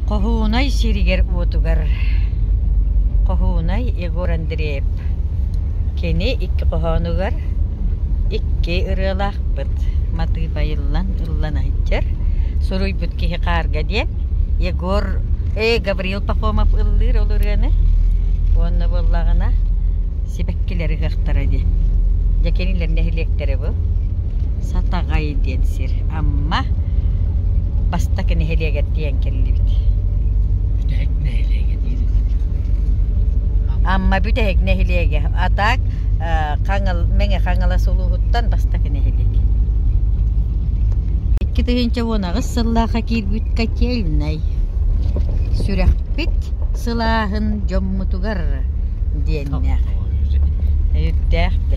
Хоһуунай сиригэр-уотугар Хоһуунай Егор Андреев Кини икки хоһоонугар икки ырыалаахпыт матыыбайыллан ыллан сылдьар суруйбут киһи хаарга диэн Егор ээ Гаврил Пахомов ыллыыр ол ырыаны уонна буоллаҕына сибэккилэр ыһыахтара диэн дьэ кинилэр нэһилиэктэрэ бу Сатаҕай диэн сир Амма Бастакы нэһилиэгэр тиийэн кэллибит. Бүтэһик нэһилиэгэ диир Амма Бүтэһик нэһилиэгэ. А так Хаҥыл Мэҥэ Хаҥалас улууһуттан бастакы нэһилиэк. Икки тыһыынча уон аҕыс сыллаахха киирбит котельнай. Сүрэхпит сылааһын дьоммутугар диэннээх. Өйүттээх да.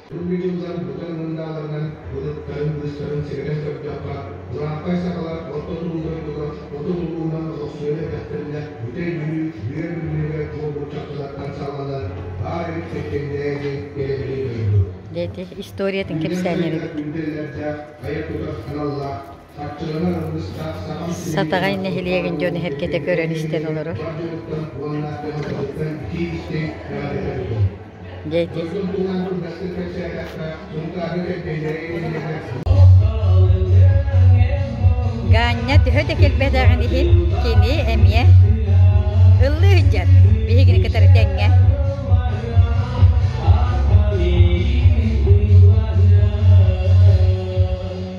Бүгүҥҥү дьыллар бутун мындааларынан былыттарын-быыстарын сэгэтэн көрдөххө, былаапкай сакалар орто туруу дойдуга хоту булуунан олохсуйа эрдэхтэринэ бүтэй Бүлүү бүөр биллиигэ буолбут чахчылартан саҕаланар баар эбит сирдэрдээҕи диэн кэрэбилии дойду. Диэтэ историятын кэпсээн эрэбит. Бүлүүлэрдээх айар-тутар аналлаах Сатаҕай нэһилиэгин дьон иһэргэтэ көрөр-истэн олорор. Дети. Гаанньа төһө да кэлбэтэҕин иһин, кини эмиэ ыллыы сылдьар биһигини кытары тэҥҥэ.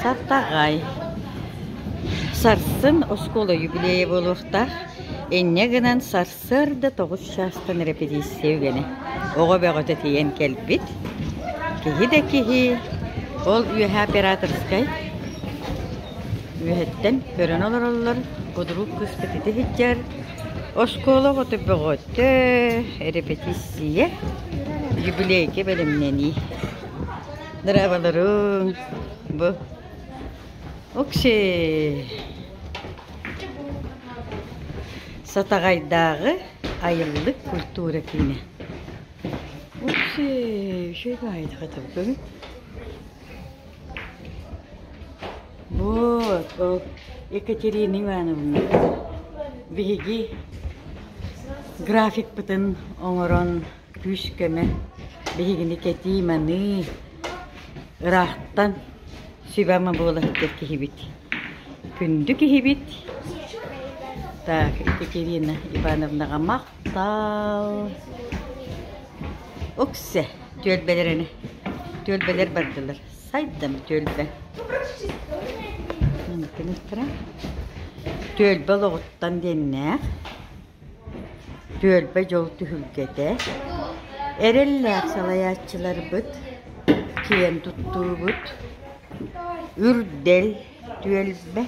Сатаҕай сарсын оскуола юбилейа буолуохтаах, инньэ гынан сарсыарда тоҕус чаастан эрэпидииссийэ үгэнэ. Оҕо бөҕөтө тиийэн кэлбит. Киһи да киһи, ол үөһэ операторскай. Үөһэттэн көрөн олороллор, кудуруук кыыспыт ити сылдьар. Оскуола оҕото бөҕөтө, эрэпидииссийэ, юбилейга бэлэмнэнии. Здраволаруй. Бу. Укси. Сатаҕайдааҕы айыллык культура күнэ. Укси. Шигайдахата бүгүн. Вот, о, Екатерина Ивановна, биһиги графикпытын оҥорон күүс-көмө, биһигини кэтии-маныы, ыраахтан сүбэ-ама буола сылдьар киһибит. Күндү киһибит, так, Екатерина Ивановнаҕа махтал. Уксе, түөлбэлэрine. Түөлбэлэр бардылар. Сайдам түөлбэ. Түөлбэ олоҕуттан диэннээх. Түөлбэ дьол түһүлгэтэ, эрэллээх салайааччыларбыт, киэн туттуубут, Үрдэл түөлбэ,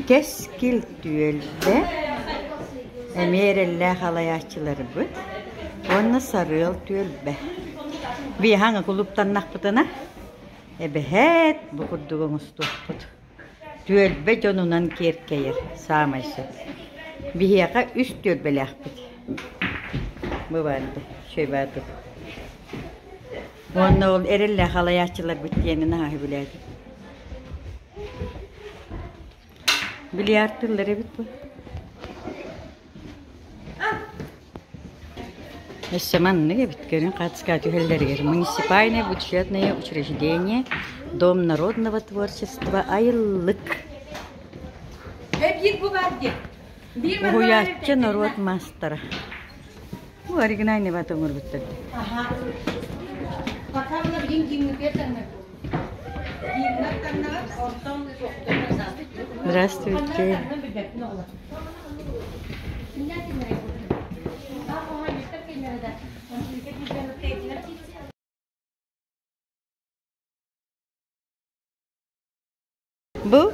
Кэскил түөлбэ, эмиэ эрэллээх алайааччыларбыт уонна Сарыал түөлбэ. Биһаҥа кулууптаннахпытына, эбэһээт бу курдук оҥостуохпут Түөлбэ дьонунан киэркэйэр саамай сөп. Биһиэхэ үс түөлбэлээхпит. Бываанды, Чойбаатыр. Уонна ол эрэллээх салайааччыларбыт диэни наһаа сөбүлээтим. Бильярд тыллар эбит бу. Өссө маннык эбит көрүҥ хаачыска түһэллэригэр муниципальное бюджетное учреждение Дом народного творчества Айыллык уһуйааччы норуот маастара бу оригинальный бата оҥорбуттар Здравствуйте. Бұл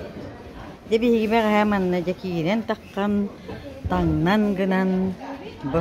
дэ биһигиме ҕаһаа манна дьэ киирэн таххан таҥнан гынан бу